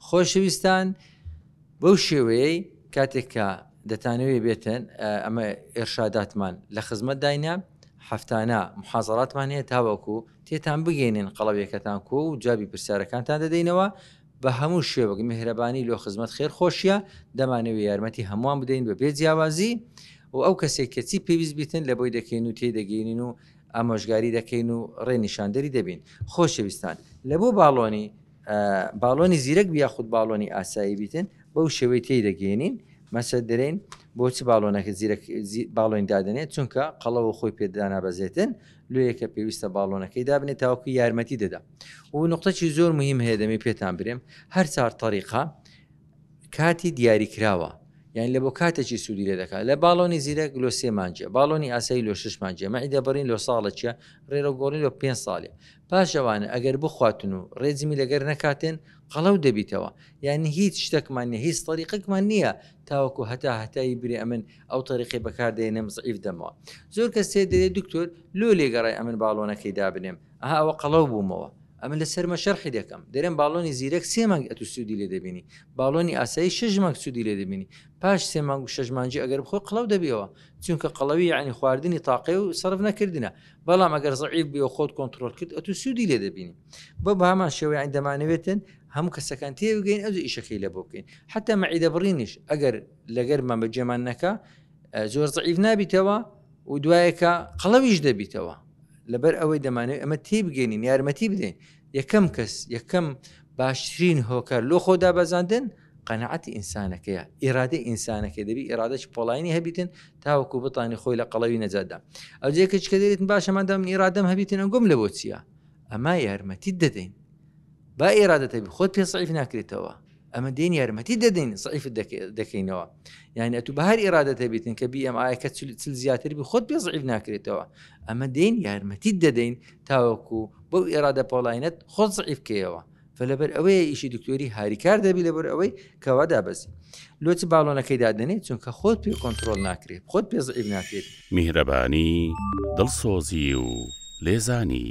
خۆشەویستان بەو شێوەیەی کاتێک کە دەتانەوێ بێتن ئەمە ئێرشاداتمان لە خزمەت داینە هەفتانە محازڕاتمان هەیە تاوەکو تێتان بگەێنن قەڵەویەکەتان کۆ و جابی پرسیارەکانتان دەدەینەوە بە هەموو شێوەک میهرەبانی لۆ خزمەت خێر خۆشیە دەمانەوە یارمەتی هەمووان بدەین بە بێ جیاوازی و ئەو کەسێک کەچی پێویست بیتن لە بۆی دەکەین و تێی دەگەینین و ئامۆژگاری دەکەین و ڕێنیشاندەری دەبین خۆشەویستان لە بۆ باڵۆنی باڵۆنی زیرەک بی یاخود باڵۆنی ئاسایی بیتن بەو شێوەی تێی دەگەێنین مەسە درێن بۆچ باڵۆنەکە زیرەک باڵۆین دادنێت چونکە قەڵەوە خۆی پێدانا بەزێتن لێەکە پێویستە باڵۆنەکەی دابنێت تاوکو یارمەتی دەدا و نقطەی زۆر مهم هەیە دەمێ پێتان برێم هەر چار طریقا کاتی دیاری کراوە یان لە بۆ کاتێکی سوودی لێ دەکات لە باڵۆنی زیرەک لۆ سێمانجە باڵۆنی ئاسایی لۆ ششمانجە مەعیدە بڕین لۆ ساڵە چە ڕێرە گۆڵی لۆ پێ ساڵێ پاش ئەوانە ئەگەر بخواتن و ڕێجمی لەگەر نەکاتن قەڵەو دەبیتەوە یانی هیچ شتەکمان نیە هیچ تەریقەکمان نیە تاوەکو هەتا هەتایی برێ ئەمن ئەو تەریقەی بەکار دەینم زەعیف دەمەوە زۆر کەس تێ دەرێ دکتۆر لۆ لێگەڕێ ئەمن باڵۆنەکەی دابنێم ئەها ئەوە قەڵەو بوومەوە ئەمن لە سەرمە شەرحی دەکەم دەرێم باڵۆنی زیرەک سێ مانگ ئەتو سوودی لێ دەبینی باڵۆنی ئاسایی شەش مانگ سوودی لێ دەبینی پاش سێ مانگ و شەش مانجی ئەگەر بخۆ قڵەو دەبیەوە چونکە قەڵەوی یعنی خواردنی تاقێ و سەرف نەکردنە بەڵام ئەگەر زعیف بێ و خۆت کۆنتترۆل کرد ئەتو سوودی لێ دەبینی بە بەمان شێوەیان دەمانەوێتن هەموو کەسەکان تێبگەین ئەو ئیشەکەی لە بۆ بکەین حتا مەعیدە بڕینیش ئەگەر لەگەرمان بە جێمان نەکە زۆر زعیف نابیتەوە و دوایەکە قەڵەویش دەبیتەوە لەبەر ئەوەی دەمانێت ئەمە تێبگەێنین یارمەتی بدەین یەکەم کەس یەکەم باشترین هۆکار لۆ خۆدا بەزاندن قەناعەتی ئینسانەکەیە، ئیرادەی ئینسانەکەی دەبی ئیرادەکی پۆڵاینی هەبیتن تاوەکو بتانی خۆی لە قەڵەوی نەجاتدا ئەو جێکەچ کە دەێتن باشەمادام ئیرادەم هەبیتن ئەنگۆم لە بۆ چییە؟ ئەما یارمەتی دەدەین با ئێرادەتەبی خۆت پێ سعیف ناکرێتەوە ئەمە دێن یارمەتی دەدەین سعیف دەکەینەوە یعنی ئەتو بە هەر ئێرادەتە بیتن کە بیم ئاەکە چل زیاتر بی خۆت پێ سعیف ناکرێتەوە ئەمە دێن یارمەتی دەدەین تاوەکو بەو ئێرادە پۆلاینەت خۆت سعیفکەیەوە فە لەبەر ئەوەیە ئیشی دکتۆری هاریکار دەبی لەبەر ئەوەی کەوا دابەزی لۆچ باڵۆنەکەی دادنێت چونکە خۆت پێ کۆنتترۆل ناکرێت خۆت پێزعیب ناکرێت میهرەبانی دڵسۆزی و لێزانی